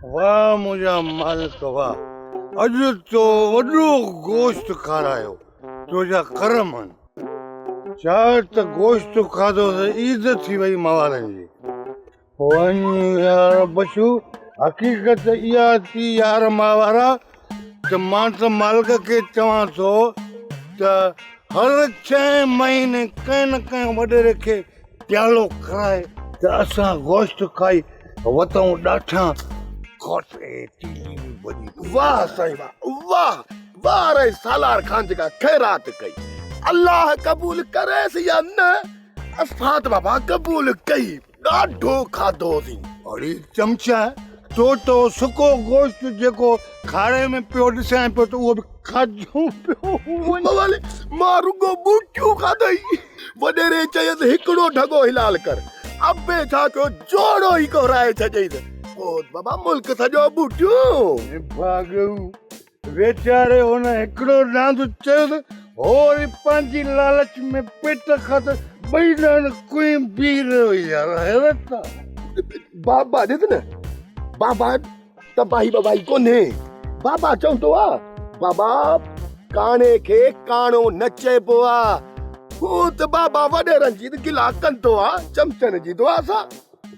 واه منهنجا مالڪ واه اڄ تو وڏو گوشت کارايو تنهنجا ڪرم هن ڇا ته گوشت کاڌو ته عيد ٿي وئي موالن جي وڃ يار بشو حقيقت اها ٿي يار ماوارا ته مان ته مالڪ کي چوان ٿو ته هر ڇهين مهيني ڪنهن نه ڪنهن وڏيري کي پيالو کرائي ته اسان گوشت کائي وتئون ڏاٺان کوٽ اي ٽيلي ۾ وڃي پوي. واھ سائين واھ واھ واھ اري سالار خان جيڪا خيرات ڪئي الله قبول ڪريس يا نه اسان ته بابا قبول ڪئي ڏاڍو کاڌوسين. اڙي چمچه تو تو سڪو گوشت جيڪو کاڙهي ۾ پيو ڏسيان پيو ته اهو به کاڌو پيو وڃي. بوالي، مان رڳو ٻوٽيون کاڌئي. وڏيري چيس، هڪڙو ڍڳو حلال ڪر. ابي ڇا ڪيو، جوڙو ئي ڪهرائي ڇڏيائينس. پوء بابا ملڪ سڄو ٻوٽيون. ڀاڳئون. ويچاري هن هڪڙو ڏاند چيس، هوء وري پنهنجي لالچ ۾ پيٽ کان ته ٻئي ڏاند ڪوئين بيهي رهيو. يار حيرت آ! بابا ڏس نه، بابا تباهي ٻباهي ڪونهي. بابا چوندو آ، بابا ڪاڻي کي ڪاڻو نه چئبو آ. هونء ته بابا وڏيرن جي گلا ڪندو آ، چمچن جي دعا سان.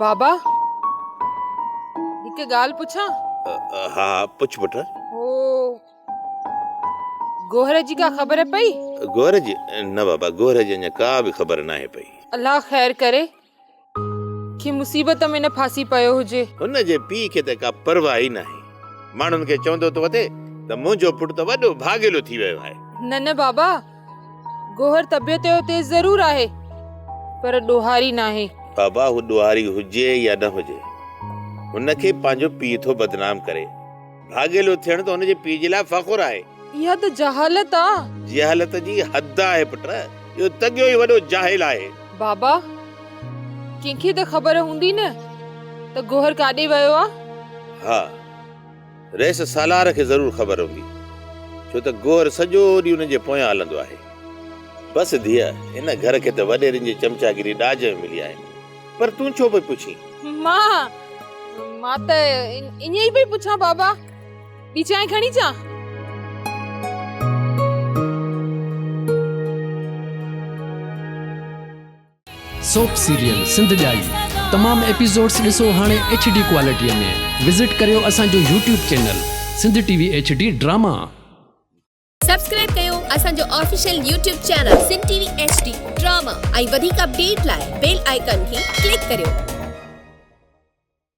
بابا هڪ ڳالهه پڇان ها پڇ پٽ هو گوهر جي ڪا خبر پئي گوهر جي نه بابا گوهر جي اڃا ڪا به خبر ناهي پئي الله خير ڪري کي مصيبت ۾ نه ڦاسي پيو هجي. هن جي پيء کي ته ڪا پرواهه ئي ناهي. ماڻهن کي چوندو ٿو اٿي ته منهنجو پٽ ته وڏو ڀاڳيلو ٿي ويو آهي. نه نه بابا، گوهر طبيعت جو تيز ضرور آهي، پر ڏوهاري ناهي. بابا هو ڏوهاري هجي يا نه هجي، هن کي پنهنجو پيء ٿو بدنام ڪري. ڀاڳيلو ٿيڻ ته هن جي پيء جي لاء فخر آهي. اها ته جهالت آ. جهالت جي حد آهي پٽ. اهو تڳيو ئي وڏو جاهل آهي. بابا! ڪنهن کي ته خبر هوندي نه ته گوهر ڪاڏي ويو آ؟ ها. رئيس سالار کي ضرور خبر هوندي. ڇو ته گوهر سڄو ڏينهن انهن جي پويان هلندو آهي. بس ڌيء، هن گهر کي ته وڏيرن جي چمچاگيري ڏاج ۾ ملي آهي. پر تون ڇو پئي پڇين؟ مان! مان ته ائين ئي پئي پڇان بابا. ٻي چانهه کڻي اچان؟ سوپ سيريل سنڌ ڄائي تمام ايپيسوڊس ڏسو هاڻي ايڇ ڊي ڪوالٽي ۾ وزٽ ڪريو اسان جو YouTube channel Sindh T V H D drama. Subscribe ڪيو اسان جو official YouTube channel Sindh T V H D drama ۽ وڌيڪ اپڊيٽ لاء بيل آئيڪان کي ڪلڪ ڪريو.